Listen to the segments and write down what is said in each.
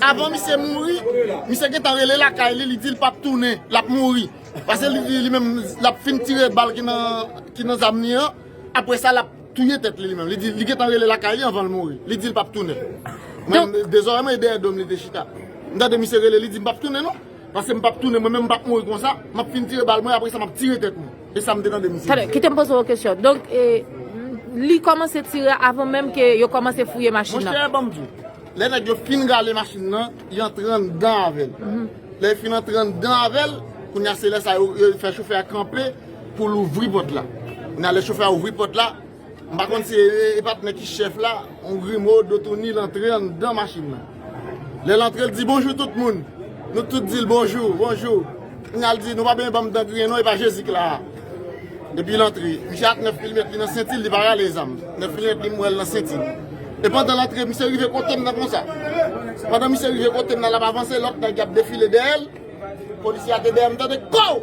Avan misye mouri, misye gentan rele lakay li, li di li pap tounen, lap mouri. Pase li di li menm lap fin tire bal ki nan zam li an, apre sa lap touye tèt li li menm. Li di li gentan rele lakay li anvan l mouri, li di li pap tounen. Mwen de zòrèy mwen e dèyè do m li te chita. M tande misye rele, li di m pap tounen non. Pase m pap tounen, mwen menm m pap mouri konsa, map fin tire bal mwen apre sa map tire tèt mwen. E sa m te tande misye di. Tande, kite m poze w yon kesyon. Donk, li kòmanse tire avan menm ke yo kòmanse fouye machin nan. Monchè, ban m di w. Lè nèg yo fin rale machin nan, y antre anndan avè l. Lè y fin antre anndan avè l, kounye a se lè sa yo fè chofè a kanpe pou l ouvri pòt la. Kounye a lè chofè a ouvri pòt la, m pa konn si e pa t nèg ki chèf la, yon grimo, do touni, l antre anndan machin nan. Lè l antre l di bonjou tout moun. Nou tout di l bonjou, bonjou. Kounye a l di nou pa bezwen ban m dan griyen non e pa Jezi k la a. Depi l antre, misye ak 9 milimetre li nan senti l, li pa rale zam. 9 milimetre li m wè l nan senti l. E pandan l antre, misye rive kote m nan konsa. Pandan misye rive kote m nan, l ap avanse, lòt nèg y ap defile dèyè l. Polisye a te dèyè m, m tande kòw!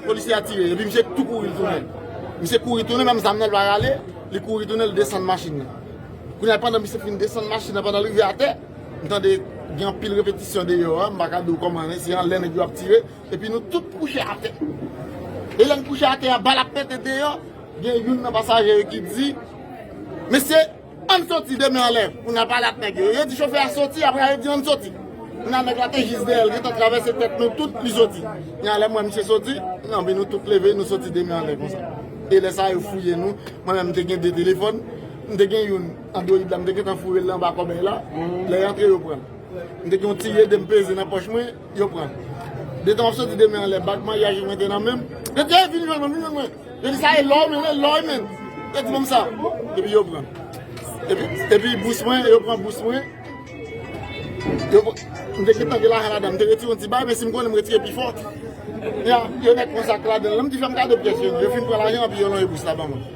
Polisye a tire, epi misye tou kouri tounen. Misye kouri tounen, menm zam nan l pa rale, li kouri tounen, l desann machin nan. Kounye a, pandan misye fin desann machin nan, pandan l rive atè, m tande gen anpil repetisyon deyò a, m pa ka di w kòman, se anlè nèg yo ap tire. Epi nou tout kouche atè. E lè n kouche atè a, bal ap pete deyò. Gen youn nan pasaje yo ki di, Mesye, ann soti demen anlè pou n al pale ak nèg yo. Yo di chofè a soti, apre a yo di ann soti. Kounye a nèg la te jis dèyè l, gentan travèse tèt nou tout, li soti. Kounye a lè m wè misye soti, anpi nou tout leve, nou soti demen anlè konsa. E lè sa yo fouye nou, mwen menm m te gen de telefòn, m te gen youn android la m te gentan foure l anba kòbèy la, lè y antre yo pran l. M te gen yon ti rede m peze nan pòch mwen. Yo pran l. Detan wap soti demen anlè bag maryaj mwen te nan menm. Yo di ey vin jwenn mwen vin jwenn mwen. Yo di sa e lò men e lò e men. Yo di banm sa. Epi yo pran. Epi bous mwen yo pran bous mwen. M te gentan gen lajan ladan m te retire yon ti bay men si m konnen m retire pi fò. Yo met yon sak ladan l. M di fè m gade pyès yo. Yo fin pran lajan epi yo lonye bous la ban mwen.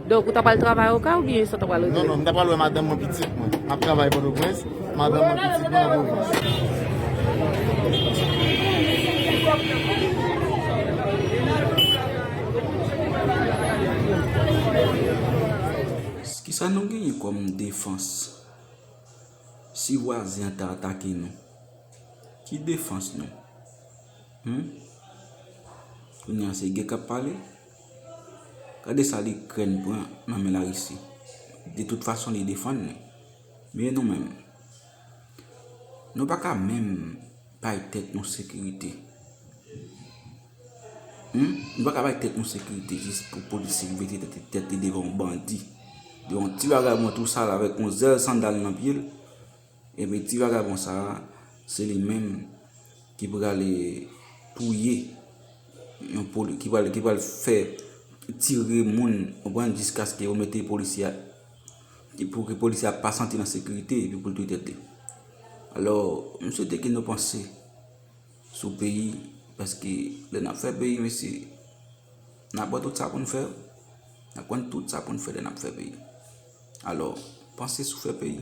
Donk ou ta pral travay okay ou byen sa ta pral regle? Non non m ta pral wè madanm mwen pitit mwen ap travay pòtoprens madanm mwen pitit mwen nan pwovens. Kisa nou genyen kòm defans si vwazen an ta atake nou ki defans nou humm kounya se gè kap pale. Gade sa likrèn pran nan men larisi. De tout fason li defann li. Men nou menm. Nou pa ka menm bay tèt nou sekirite. Nou pa ka bay tèt nou sekirite jis pou polisye ki mete tèt li devan yon bandi. Devan yon ti bagay mwen tou sal avèk yon zèl sandal nan pye l. Ebyen ti vagabon sa a se li menm ki pral touye yon polisye, ki pral fè tire moun ou pran jiskaske yo mete polisye a, pou ki polisye a pa santi l an sekirite epi pou l touye tèt li. Alò, m swete ke nou panse sou peyi paske lè n ap fè peyi mesye, n ap wè tout sa pou n fè, n ap konn tout sa pou n fè lè n ap fè peyi. Alò, panse sou fè peyi.